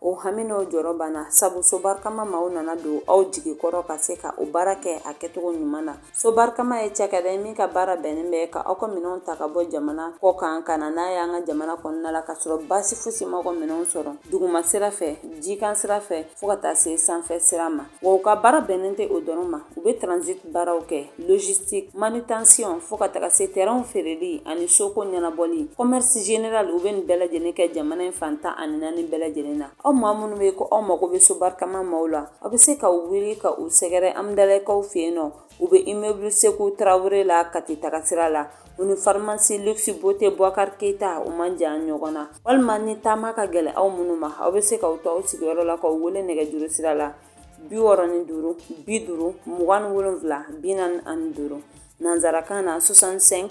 O hami n'o jɔrɔ banna sabu so barikama maaw nana don aw jigi kɔrɔ ka se ka o baara kɛ a kɛcogo ɲuman na. So barikama ye cakɛda ye min ka baara bɛnnen bɛ ka aw ka minɛnw ta ka bɔ jamana kɔ kan ka na n'a ye an ka jamana kɔnɔna la ka sɔrɔ baasi fosi ma aw ka minɛnw sɔrɔ duguma sira fɛ, jikan sira fɛ fo ka taa se sanfɛ sira ma. Wa u ka baara bɛnnen tɛ o dɔrɔn ma u bɛ transit baaraw kɛ logistique manutention fo ka taga se terrain feereli ani soko ɲɛnabɔli commerce général u bɛ nin bɛɛ lajɛlen kɛ jamana in fan tan ani naani bɛɛ lajɛlen na aw maa minnu bɛ ko aw mago bɛ sobarikama maaw la aw bɛ se k'aw wuli ka u sɛgɛrɛ amidalɛkaw fɛ yen nɔ U bɛ immeuble Sekou Traore la Kati tagasira la, u ni pharmacie luxe beauté Bouakar Keita u man jan ɲɔgɔn na. Walima ni taama ka gɛlɛn aw minnu ma, aw bɛ se k'aw to aw sigiyɔrɔ la k'u wele nɛgɛjuru sira la 65 50 27 45, nanzarakan na 65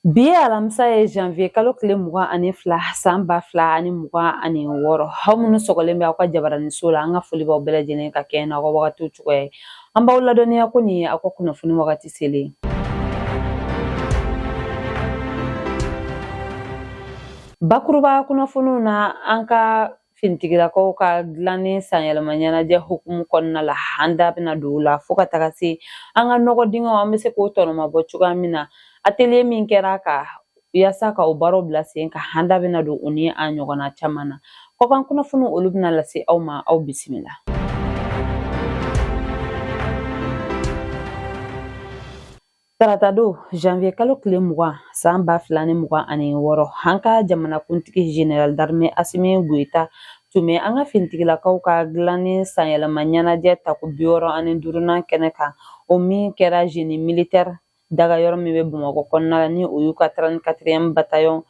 Bi ye alamisa ye janvier kalo tile mugan ani fila san ba fila ani mugan ani wɔɔrɔ aw minnu sɔgɔlen bɛ aw ka jabaraniso la an ka foli b'aw bɛɛ lajɛlen ka kɛ n'aw ka wagatiw cogoya ye an b'aw ladɔnniya ko nin ye aw ka kunnafoni wagati selen bakuruba kunnafoniw na an ka finitigilakaw ka dilanni sanyɛlɛma ɲɛnajɛ hukumu kɔnɔna la an da bɛna don o la fo ka taga se an ka nɔgɔ dingɛw an bɛ se k'o tɔnɔmabɔ cogoya min na atelier min kɛra ka yaasa ka o baaraw bila sen kan an da bɛna don o ni a ɲɔgɔnna caman na kɔkan kunnafoni olu bɛna lase aw ma aw bisimila Tarata don janvier kalo tile mugan san ba fila ni mugan ani wɔɔrɔ an ka jamanakuntigi général d'armée asimi goyita tun bɛ an ka finitigilakaw ka dilanni sanyɛlɛma ɲɛnajɛ tako bi wɔɔrɔ ani duurunan kɛnɛ kan o min kɛra génie militaire dagayɔrɔ min bɛ bamakɔ kɔnɔna la ni o y'u ka 34e bataillon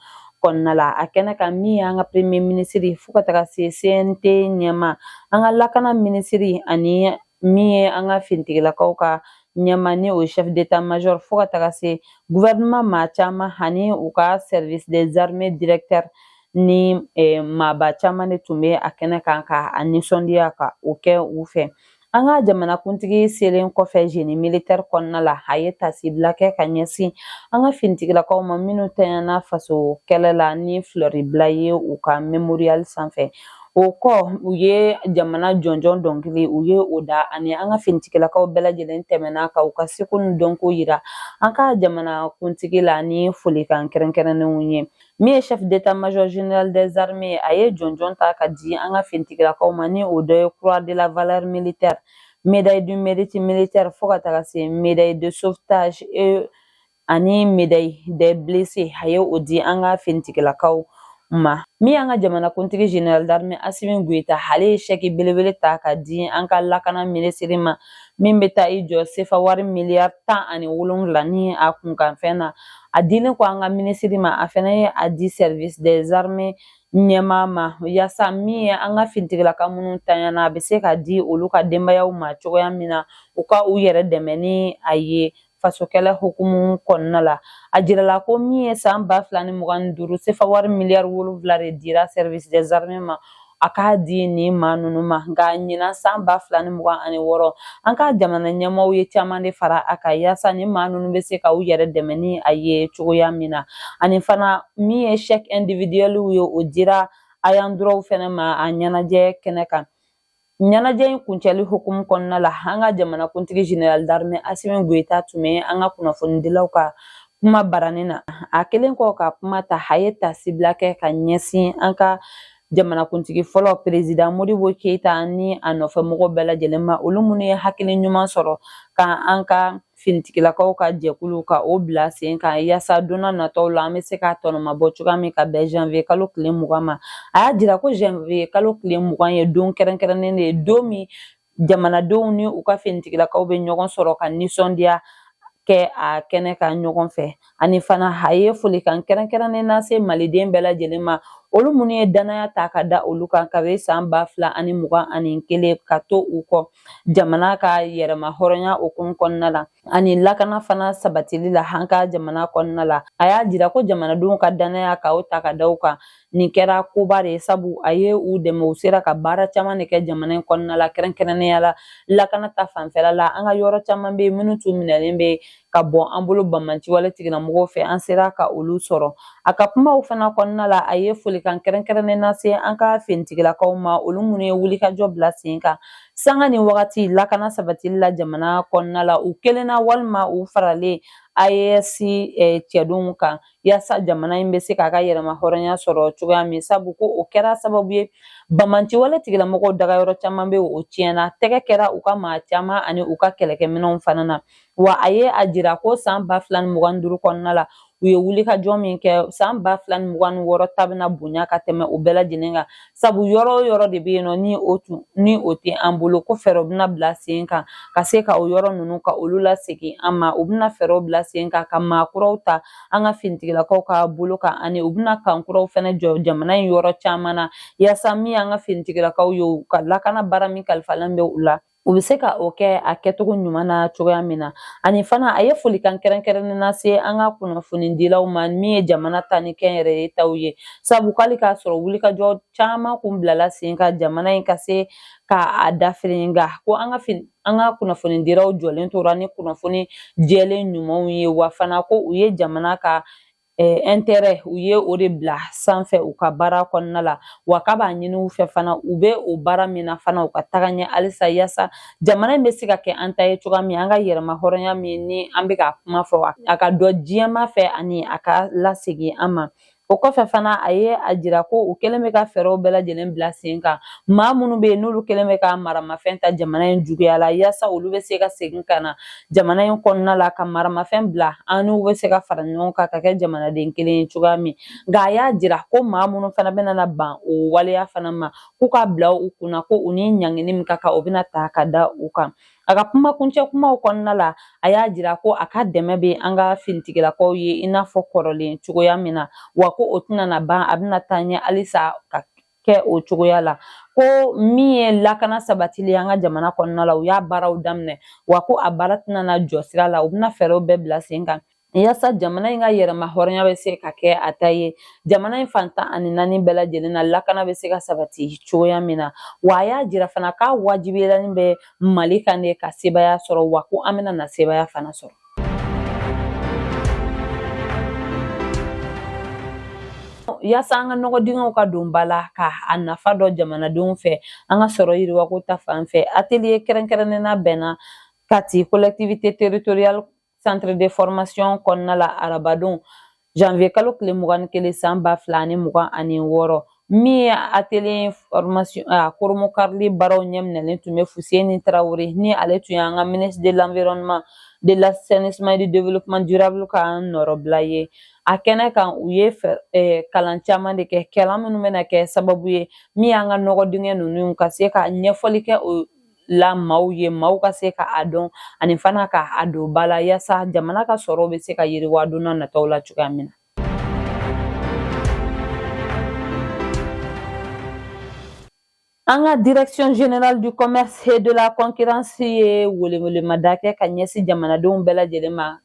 kɔnɔna la a kɛnɛ kan min y'an ka premier ministre fo ka taga se cnt ɲɛmaa an ka lakana minisiri ani min ye an ka finitigilakaw ka ɲɛmaa ni o chef d'état major fo ka taga se gouvernement maa caman ani u ka service des armées directeur ni eh, maaba caman de tun bɛ a kɛnɛ kan ka a nisɔndiya ka o kɛ u fɛ an ka jamanakuntigi selen kɔfɛ génie militaire kɔnɔna la a ye tasibila kɛ ka ɲɛsin an ka finitigilakaw ma minnu tanyana faso kɛlɛ la ni filɛri bila ye u ka mémorial sanfɛ o kɔ u ye jamana jɔnjɔn dɔnkili u ye o da ani an ka finitigilakaw bɛɛ lajɛlen tɛmɛna ka u ka seko ni dɔnko yira an ka jamana kuntigi la ni folikan kɛrɛnkɛrɛnnenw ye min ye chef d'état major général des armées a ye jɔnjɔn ta ka di an ka finitigilakaw ma ni o dɔ ye croix de la valeur militaire médaille du mérite militaire fo ka taga se médaille de sauvetage et ani médaille des blessés a ye o di an ka finitigilakaw ma min y'an ka jamanakuntigi général d'armée asimi goyita ale ye chèque belebele ta ka di an ka lakana minisiri ma min bɛ taa i jɔ sefa wari miliyari tan ani wolonwula ni a kunkanfɛn na a dilen kɔ an ka minisiri ma a fana ye a di service des armées ɲɛmaa ma yaasa min ye an ka finitigilaka minnu tanyana a bɛ se ka di olu ka denbayaw ma cogoya min na u ka u yɛrɛ dɛmɛ ni a ye fasokɛlɛ hukumu kɔnɔna la a jirala ko min ye san ba fila ni mugan ni duuru sefa wari miliyari wolonfila de dira service des armées ma a k'a di nin maa ninnu ma nka ɲinan san ba fila ni mugan ani wɔɔrɔ an ka jamana ɲɛmɔgɔw ye caman de fara a kan yaasa nin maa ninnu bɛ se ka u yɛrɛ dɛmɛ ni a ye cogoya min na ani fana min ye chèque individuel ye o dira ayants droit fɛnɛ ma a ɲɛnajɛ kɛnɛ kan ɲɛnajɛ in kuncɛli hukumu kɔnɔna la an ka jamanakuntigi général d'armée asimi goyita tun bɛ an ka kunnafonidilaw ka kumabaranin na a kelen kɔ ka kuma ta a ye taasibila kɛ ka ɲɛsin an ka jamanakuntigi fɔlɔ perezidan modibo keyita ni a nɔfɛmɔgɔ bɛɛ lajɛlen ma olu minnu ye hakili ɲuman sɔrɔ ka an ka finitigilakaw ka jɛkulu ka o bila sen kan yaasa donna nataw la an bɛ se k'a tɔnɔmabɔ cogoya min ka bɛn janvier kalo tile mugan ma a y'a jira ko janvier kalo tile mugan ye don kɛrɛnkɛrɛnnen de ye don min jamanadenw ni u ka finitigilakaw bɛ ɲɔgɔn sɔrɔ ka nisɔndiya kɛ a kɛnɛ kan ɲɔgɔn fɛ ani fana a ye folikan kɛrɛnkɛrɛnnen lase maliden bɛɛ lajɛlen ma olu minnu ye danaya ta ka da olu kan kabe san ba fila ani mugan ani kelen ka to u kɔ jamana ka yɛrɛma hɔrɔnya hukumu kɔnɔna la ani lakana fana sabatili la an ka jamana kɔnɔna la a y'a jira ko jamanadenw ka danaya ka o ta ka da u kan nin kɛra koba de ye sabu a ye u dɛmɛ u sera ka baara caman de kɛ jamana in kɔnɔna la kɛrɛnkɛrɛnnenya la lakana ta fanfɛla la an ka yɔrɔ caman bɛ minnu tun minɛlen bɛ ka bɔ an bolo banbaanci wale tigilamɔgɔw fɛ an sera ka olu sɔrɔ a ka kumaw fana kɔnɔna la a ye folikan kɛrɛnkɛrɛnnen lase an ka finitigilakaw ma olu minnu ye wulikajɔ bila sen kan sanga ni wagati lakana sabatili la jamana kɔnɔna la u kelenna walima u faralen AES eh, cɛdenw kan yaasa jamana in bɛ se k'a ka yɛrɛma hɔrɔnya sɔrɔ cogoya min sabu ko o kɛra sababu ye banbaanci wale tigilamɔgɔw dagayɔrɔ caman bɛ o tiɲɛna tɛgɛ kɛra u ka maa caman ani u ka kɛlɛkɛminɛnw fana na wa a ye a jira ko san ba fila ni mugan ni duuru kɔnɔna la u ye wulikajɔ min kɛ san ba fila ni mugan ni wɔɔrɔ ta bɛna bonya ka tɛmɛ o bɛɛ lajɛlen kan sabu yɔrɔ o yɔrɔ de bɛ yen nɔ ni o tun ni o tɛ an bolo ko fɛɛrɛw bɛna bila sen kan ka se ka o yɔrɔ ninnu ka olu lasegin an ma u bɛna fɛɛrɛw bila sen kan ka maa kuraw ta an ka finitigilakaw ka bolo kan ani u bɛna kan kuraw fana jɔ jamana in yɔrɔ caman na yaasa min y'an ka finitigilakaw ye u ka lakana baara min kalifalen bɛ u la u bɛ se ka o kɛ a kɛcogo ɲuman na cogoya min na ani fana a ye folikan kɛrɛnkɛrɛnnen lase an ka kunnafonidilaw ma min ye jamana ta ni kɛnyɛrɛye taw ye sabu k'ali k'a sɔrɔ wulikajɔ caman kun bilala sen kan jamana in ka se ka a dafiri nka ko an ka an ka kunnafonidilaw jɔlen tora ni kunnafoni jɛlen ɲumanw ye wa fana ko u ye jamana ka intérêt u ye o de bila sanfɛ u ka baara kɔnɔna la wa k'a b'a ɲini u fɛ fana u bɛ o baara min na fana u ka taga ɲɛ halisa yasa jamana in bɛ se ka kɛ an ta ye cogoya min an ka yɛrɛma hɔrɔnya min ni an bɛ ka kuma fɔ a ka dɔn diɲɛmaa fɛ ani a ka lasegin an ma o kɔfɛ fana a ye a jira ko u kɛlen bɛ ka fɛɛrɛw bɛɛ lajɛlen bila sen kan maa minnu bɛ yen n'olu kɛlen bɛ ka maramafɛn ta jamana in juguya la yaasa olu bɛ se ka segin ka na jamana in kɔnɔna la ka maramafɛn bila an n'u bɛ se ka fara ɲɔgɔn kan ka kɛ jamanaden kelen ye cogoya min nka a y'a jira ko maa minnu fana bɛna na ban o waleya fana ma k'u ka bila u kunna ko u ni ɲangini min ka kan o bɛna ta ka da u kan a ka kuma kuncɛ kumaw kɔnɔna la a y'a jira ko a ka dɛmɛ bɛ an ka finitigilakaw ye i n'a fɔ kɔrɔlen cogoya min na wa ko o tɛna na ban a bɛna taa ɲɛ halisa ka kɛ o cogoya la ko min ye lakana sabatili ye an ka jamana kɔnɔna la u y'a baaraw daminɛ wa ko a baara tɛna na jɔ sira la u bɛna fɛɛrɛw bɛɛ bila sen kan yasa jamana in ka yɛrɛma hɔrɔnya bɛ se ka kɛ a ta ye jamana in fan tan ani naani bɛɛ lajɛlen na lakana bɛ se ka sabati cogoya min na wa a y'a jira fana k'a wajibiyalen bɛ mali kan de ka sebaaya sɔrɔ wa ko an bɛna na sebaaya fana sɔrɔ Yaasa an ka nɔgɔ dingɛw ka don ba la ka a nafa dɔn jamanadenw fɛ an ka sɔrɔ yiriwako ta fan fɛ atelier kɛrɛnkɛrɛnnen labɛnna Kati collectivité territoriale centre de formation kɔnɔna la arabadon janvier kalo tile mugan ni kelen san ba fila ani mugan ani wɔɔrɔ min ye atelier formation a koromo karili baaraw ɲɛminɛlen tun bɛ fuseni tarawele ni ale tun y'an ka ministre de l'environnement de l'assainissement et du développement durable ka nɔrɔbila ye a kɛnɛ kan u ye eh, kalan caman de kɛ kalan minnu bɛna kɛ sababu ye min y'an ka nɔgɔ dingɛ ninnu ka se ka ɲɛfɔli kɛ o la maaw ye maaw ka se ka a dɔn ani fana ka a don ba la yaasa jamana ka sɔrɔ bɛ se ka yiriwa don n'a nataw la cogoya min na An ka direction générale du commerce et de la concurrence ye welewelemada kɛ ka ɲɛsin jamanadenw bɛɛ lajɛlen ma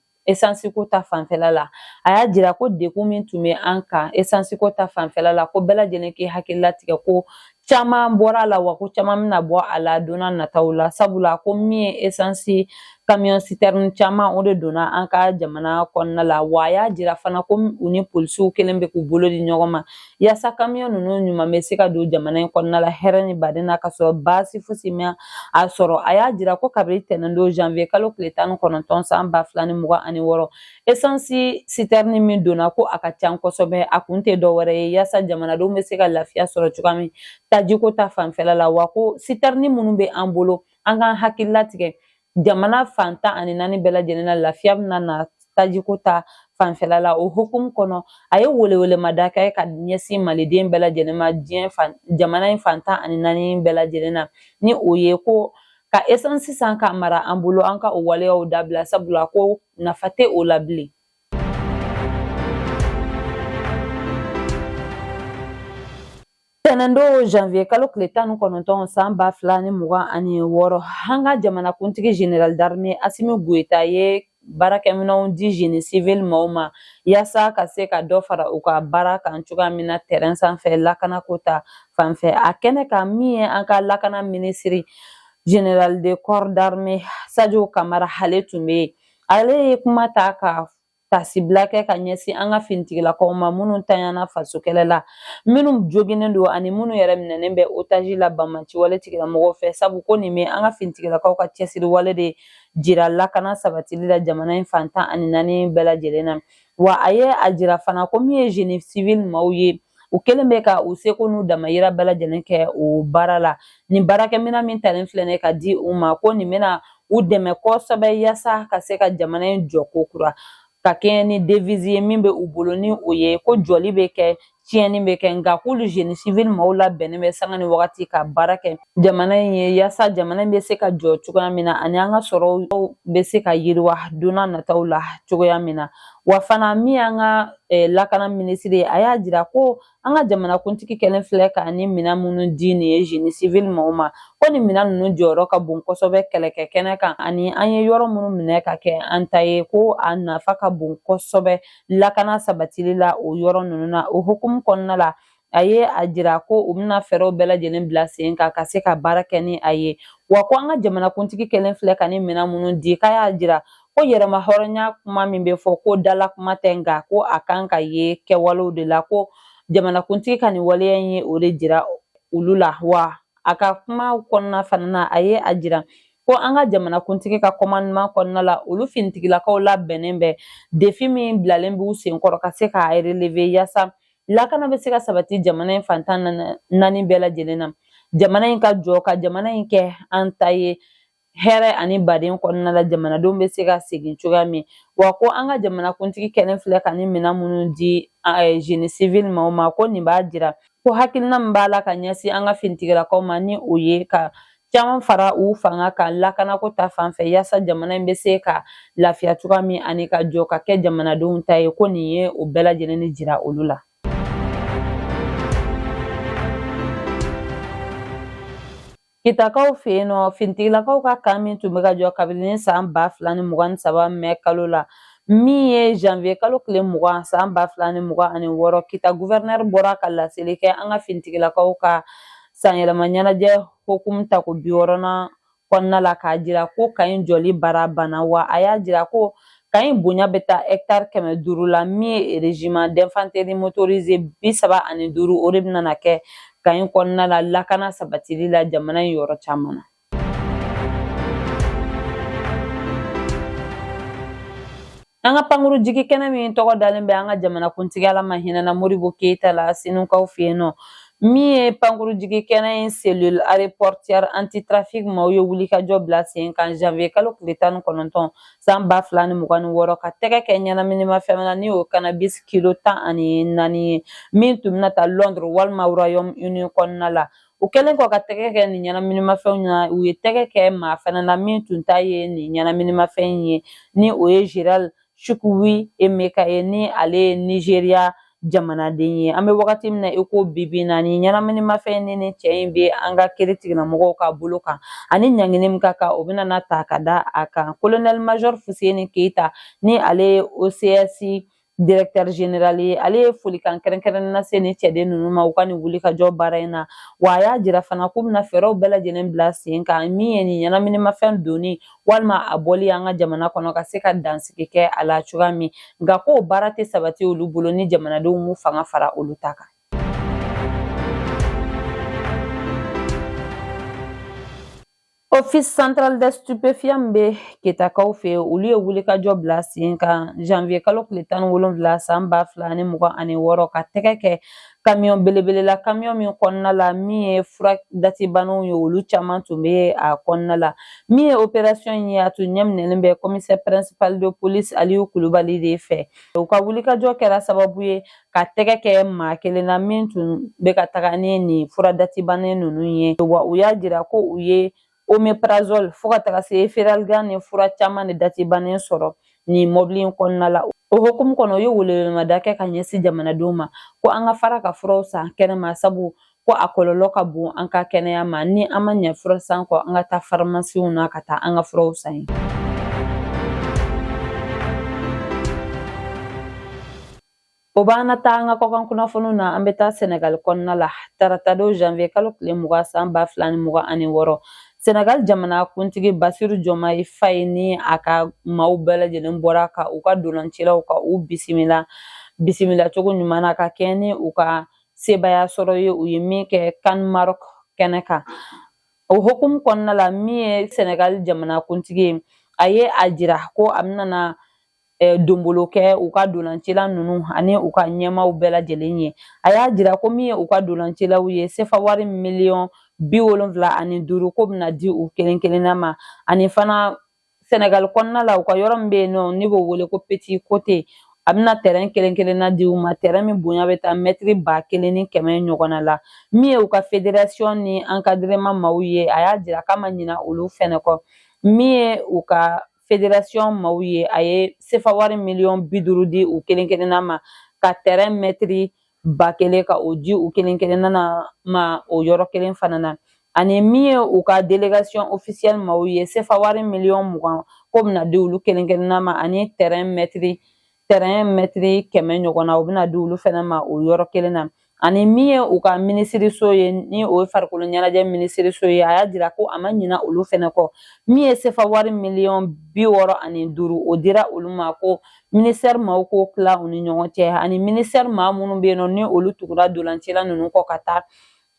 ko ta fanfɛla la a y'a jira ko degun min tun bɛ an kan esansi ko ta fanfɛla la ko bɛɛ lajɛlen k'i hakili latigɛ ko caman bɔra a la wa ko caman bɛna bɔ a la donna nataw la sabula ko min ye esansi kamiyɔn sitɛrini caman o de donna an ka jamana kɔnɔna la wa a y'a jira fana ko u ni polisiw kɛlen bɛ k'u bolo di ɲɔgɔn ma yaasa kamiyɔn ninnu ɲuman bɛ se ka don jamana in kɔnɔna la hɛrɛ ni baden na ka sɔrɔ baasi fosi ma a sɔrɔ a y'a jira ko kabini tɛnɛn don janvier kalo tile tan ni kɔnɔntɔn san ba fila ni mugan ani wɔɔrɔ esansi sitɛrini min donna ko a ka can kosɛbɛ a kun tɛ dɔwɛrɛ ye yaasa jamanadenw bɛ se ka lafiya sɔrɔ cogoya min tajiko ta fanfɛla la wa ko sitɛrini minnu bɛ an bolo an k'an hakili latigɛ jamana fan tan ani naani bɛɛ lajɛlen na lafiya bɛna na tajiko ta fanfɛla la o hukumu kɔnɔ a ye welewelemada kɛ ka ɲɛsin maliden bɛɛ lajɛlen ma diɲɛ fan jamana in fan tan ani naani bɛɛ lajɛlen na ni o ye ko ka esansi san ka mara an bolo an ka o waleyaw dabila sabula ko nafa tɛ o la bilen Tɛnɛndon janvier kalo tile tan ni kɔnɔntɔn san ba fila ni mugan ani wɔɔrɔ an ka jamanakuntigi general d'armée Asimi Goyita ye baarakɛminɛnw di génie civil maaw ma yaasa ka se ka dɔ fara u ka baara kan cogoya min na terrain sanfɛ lakanako ta fanfɛ a kɛnɛ kan min ye an ka lakana minisiri general de corps d'armée Sadio Kamara ale tun bɛ yen ale ye kuma ta ka tasibila kɛ ka ɲɛsin an ka finitigilakaw ma minnu tanyana faso kɛlɛ la minnu joginnen don ani minnu yɛrɛ minɛnen bɛ otaji la banbaanci wale tigilamɔgɔw fɛ sabu ko nin bɛ an ka finitigilakaw ka cɛsiri wale de jira lakana sabatili la jamana in fantan ani naani bɛɛ lajɛlen na wa a ye a jira fana ko min ye zeni sivili maaw ye u kɛlen bɛ ka u seko n'u damayira bɛɛ lajɛlen kɛ o baara la nin baarakɛminɛn min talen filɛ nin ka di u ma ko nin bɛna u dɛmɛ kosɛbɛ yaasa ka se ka jamana in jɔ ko kura ka kɛɲɛ ni devizi ye min bɛ u bolo ni o ye ko jɔli bɛ kɛ tiɲɛni bɛ kɛ nka k'olu jeni sivili maaw labɛnnen bɛ sanga ni wagati ka baara kɛ jamana in ye yaasa jamana in bɛ se ka jɔ cogoya min na ani an ka sɔrɔw bɛ se ka yiriwa don na nataw la cogoya min na wa fana min y'an ka eh, lakana minisiri ye a y'a jira ko an ka jamanakuntigi kɛlen filɛ ka nin minɛn minnu di nin ye zeni sivili maaw ma ko nin minɛn ninnu jɔyɔrɔ ka bon kosɛbɛ kɛlɛkɛ kɛnɛ kan ani an ye yɔrɔ minnu minɛ ka kɛ an ta ye ko a nafa ka bon kosɛbɛ lakana sabatili la o yɔrɔ ninnu na o hukumu kɔnɔna la a ye a jira ko u bɛna fɛɛrɛw bɛɛ lajɛlen bila sen kan ka se ka baara kɛ ni a ye wa ko an ka jamanakuntigi kɛlen filɛ ka nin minɛn minnu di k'a y'a jira ko yɛrɛmahɔrɔnya kuma min bɛ fɔ ko dala kuma tɛ nka ko a kan ka ye kɛwalew de la ko jamanakuntigi ka nin waleya in ye o de jira olu la wa a ka kuma kɔnɔna fana na a ye a jira ko an ka jamanakuntigi ka kɔmandiman kɔnɔna la olu finitigilakaw labɛnnen bɛ defi min bilalen b'u senkɔrɔ ka se k'a releve yaasa lakana bɛ se ka sabati jamana in fantan naani bɛɛ lajɛlen na jamana in ka jɔ ka jamana in kɛ an ta ye hɛrɛ ani baden kɔnɔna la jamanadenw bɛ se ka segin cogoya min wa ko an ka jamanakuntigi kɛlen filɛ ka ni minɛn minnu di génie civil maaw ma ko nin b'a jira ko hakilina min b'a la ka ɲɛsin an ka finitigilakaw ma ni o ye ka caman fara u fanga kan lakanako ta fan fɛ yaasa jamana in bɛ se ka lafiya cogoya min ani ka jɔ ka kɛ jamanadenw ta ye ko nin ye o bɛɛ lajɛlen ni jira olu la Kitakaw fɛ yen nɔ finitigilakaw ka kan min tun bɛ ka jɔ kabini san ba fila ni mugan ni saba mɛ kalo la min ye janvier kalo tile mugan san ba fila ni mugan ani wɔɔrɔ kita guvɛrɛnɛri bɔra ka laseli kɛ an ka finitigilakaw ka sanyɛlɛma ɲɛnajɛ hukumu tako bi wɔɔrɔnan kɔnɔna la k'a jira ko kan in jɔli baara banna wa a y'a jira ko kan in bonya bɛ taa hɛktari kɛmɛ duuru la min ye régiment d'infanterie motorisé bi saba ani duuru o de bɛna kɛ kan in kɔnɔna la lakana sabatili la jamana in yɔrɔ caman na An ka pankuru jigi kɛnɛ min tɔgɔ dalen bɛ an ka jamanakuntigi Ala ma hinɛna Modibo Keyita la Senukaw fɛ yen nɔ min ye pankuru jigi kɛnɛ in cellule aéroportuaire antitrafic maaw ye wulikajɔ bila sen kan janvier kalo tile tan ni kɔnɔntɔn san ba fila ni mugan ni wɔɔrɔ ka tɛgɛ kɛ ɲɛnaminimafɛn na ni o cannabis kilo tan ani naani ye min tun bɛna taa londres walima royaume uni kɔnɔna la u kɛlen kɔ ka tɛgɛ kɛ nin ɲɛnaminimafɛnw na u ye tɛgɛ kɛ maa fana na min tun ta ye nin ɲɛnaminimafɛn in ye ni o ye gerald chukwuemeka ye ni ale ye nigeria jamanaden ye an bɛ wagati min na i ko bibi na ni ɲɛnaminimafɛn ni ni cɛ in bɛ an ka kiiritigɛlamɔgɔw ka bolo kan ani ɲangini min ka kan o bɛna na ta ka da a kan colonel major fuseni keyita ni ale ye ocs directeur général ye ale ye folikan kɛrɛnkɛrɛnnen lase nin cɛden ninnu ma u ka nin wulikajɔ baara in na wa a y'a jira fana k'u bɛna fɛɛrɛw bɛɛ lajɛlen bila sen kan min ye nin ɲɛnaminimafɛn donni walima a bɔli an ka jamana kɔnɔ ka se ka dansigi kɛ a la cogoya min nka k'o baara tɛ sabati olu bolo ni jamanadenw m'u fanga fara olu ta kan Office Central des Stupéfiants bɛ Kitakaw fɛ, olu ye wulikajɔ bila sen kan janvier kalo tile tan ni wolonwula san ba fila ani mugan ani wɔɔrɔ ka tɛgɛ kɛ kamiyɔn belebele la kamiyɔn min kɔnɔna la min ye fura datibanaw ye olu caman tun bɛ a kɔnɔna la min ye operasiyɔn in ye a tun ɲɛminɛlen bɛ commissaire principal de police aliyu kulubali de fɛ u ka wulikajɔ kɛra sababu ye ka tɛgɛ kɛ maa kelen na min tun bɛ ka taga ni nin fura datibannen ninnu ye wa u y'a jira ko u ye omeprazole fo ka taga se feralgan ni fura caman de datibannen sɔrɔ nin mɔbili in kɔnɔna la o hukumu kɔnɔ u ye welewelemada kɛ ka ɲɛsin jamanadenw ma ko an ka fara ka furaw san kɛnɛma sabu ko a kɔlɔlɔ ka bon an ka kɛnɛya ma ni an ma ɲɛ fura san kɔ an ka taa farimasiw na ka taa an ka furaw san yen O b'an na taa an ka kɔkan kunnafoniw na an bɛ taa sɛnɛgali kɔnɔna la taratadon janvier kalo tile mugan san ba fila ni mugan ani wɔɔrɔ sɛnɛgali jamana kuntigi basiru jɔmayi faye ni a ka maaw bɛɛ lajɛlen bɔra ka u ka dolancilaw ka u bisimila cogo ɲuman na ka kɛɲɛ ni u ka sebaya sɔrɔ ye u ye min kɛ CAN Maroc kɛnɛ kan o hukumu kɔnɔna la min ye sɛnɛgali jamana kuntigi ye a ye a jira ko a bɛna donbolo kɛ u ka dolancila ninnu ani u ka ɲɛmaaw bɛɛ lajɛlen ye a y'a jira ko min ye u ka dolancilaw ye sefa wari miliyɔn bi wolonfila ani duuru k'o bɛna di u kelen kelenna ma ani fana sɛnɛgali kɔnɔna la u ka yɔrɔ min bɛ yen nɔ n'i b'o wele ko Petite Côte a bɛna tɛrɛn kelen kelenna di u ma tɛrɛn min bonya bɛ taa mɛtiri ba kelen ni kɛmɛ ɲɔgɔnna la min ye u ka federasiyɔn ni encadrement maaw ye a y'a jira k'a ma ɲina olu fɛnɛ kɔ min ye u ka federasiyɔn maaw ye a ye sefa wari miliyɔn bi duuru di u kelen kelenna ma ka tɛrɛn mɛtiri ba kelen ka o di u kelen kelenna na ma o yɔrɔ kelen fana na ani min ye u ka delegation officielle maaw ye sefa wari miliyɔn mugan k'o bɛna di olu kelen kelenna ma ani tɛrɛn mɛtiri mɛtiri kɛmɛ ɲɔgɔnna o bɛna di olu fana ma o yɔrɔ kelen na ani min ye u ka minisiriso ye ni o ye farikolo ɲɛnajɛ minisiriso ye a y'a jira ko a ma ɲina olu fana kɔ min ye sefa wari miliyɔn bi wɔɔrɔ ani duuru o dira olu ma ko minisitɛri maaw k'o tila u ni ɲɔgɔn cɛ ani minisitɛri maa minnu bɛ yen nɔ ni olu tugura dolancila ninnu kɔ ka taa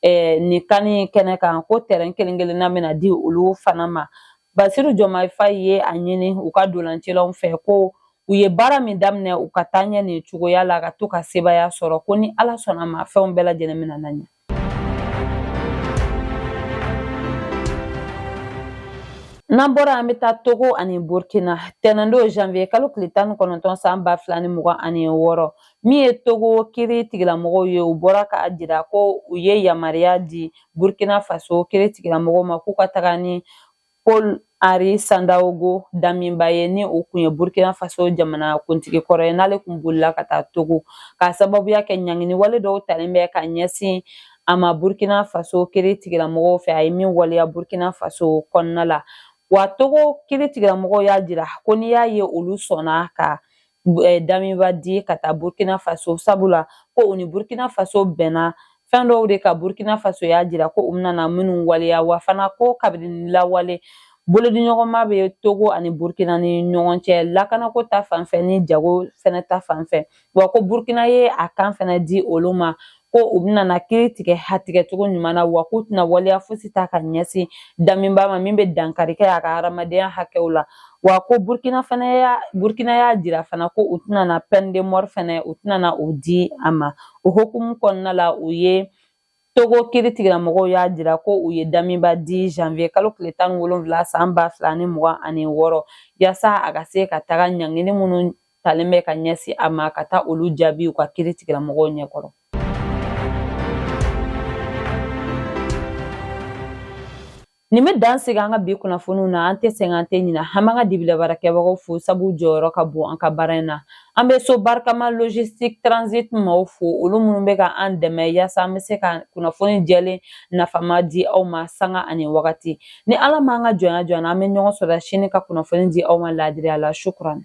nin CAN in kɛnɛ kan ko tɛrɛn kelen kelenna bɛna di olu fana ma basiru jɔmayi faye ye a ɲini u ka dolancilaw fɛ ko u ye baara min daminɛ u ka taa ɲɛ nin cogoya la ka to ka sebaya sɔrɔ ko ni ala sɔnna ma fɛnw bɛɛ lajɛlen bɛna na ɲɛ n'an bɔra an bɛ taa togo ani burkina tɛnɛndon janvier kalo tile tan ni kɔnɔntɔn san ba fila ni mugan ani wɔɔrɔ min ye togo kiri tigilamɔgɔw ye u bɔra k'a jira ko u ye yamaruya di burkina faso kiri tigilamɔgɔw ma k'u ka taga ni paul henri sandaogo damiba ye ni o kun ye burkina faso jamana kuntigi kɔrɔ ye n'ale kun bolila ka taa togo k'a sababuya kɛ ɲangini wale dɔw talen bɛ ka ɲɛsin a ma burkina faso kiri tigilamɔgɔw fɛ a ye min waleya burkina faso kɔnɔna la wa togo kiri tigilamɔgɔw y'a jira ko n'i y'a ye olu sɔnna ka eh, damiba di ka taa burkina faso sabula ko u ni burkina faso bɛnna fɛn dɔw de kan burkina faso y'a jira ko u bɛna na minnu waleya wa fana ko kabini lawale bolodiɲɔgɔnma bɛ togo ani burkina ni ɲɔgɔn cɛ lakanako ta fanfɛ ni jago fɛnɛ ta fanfɛ wa ko burkina ye a kan fɛnɛ di olu ma ko u bɛna na kiri tigɛ a tigɛ cogo ɲuman na wa k'u tɛna waleya fosi ta ka ɲɛsin damiba ma min bɛ dankari kɛ a ka hadamadenya hakɛw la wa ko burkina y'a jira fana ko u tɛna na peine de mort fɛnɛ u tɛna na o di a ma o hukumu kɔnɔna la u ye togo kiri tigilamɔgɔw y'a jira ko u ye damiba di janvier kalo tile tan ni wolonwula san ba fila ni mugan ani wɔɔrɔ yaasa a ka se ka taga ɲangini minnu talen bɛ ka ɲɛsin a ma ka taa olu jaabi u ka kiri tigilamɔgɔw ɲɛkɔrɔ nin bɛ dan sigi an ka bi kunnafoniw na an tɛ sɛgɛn an tɛ ɲina an b'an ka dibilabaara kɛbagaw fo sabu jɔyɔrɔ ka bon an ka baara in na an bɛ so barikama logistique transit maaw fo olu minnu bɛ ka an dɛmɛ yaasa an bɛ se ka kunnafoni jɛlen nafama di aw ma sanga ani wagati ni ala m'an ka jɔnya jɔ an na an bɛ ɲɔgɔn sɔrɔ sini ka kunnafoni di aw ma laadiriya la shukran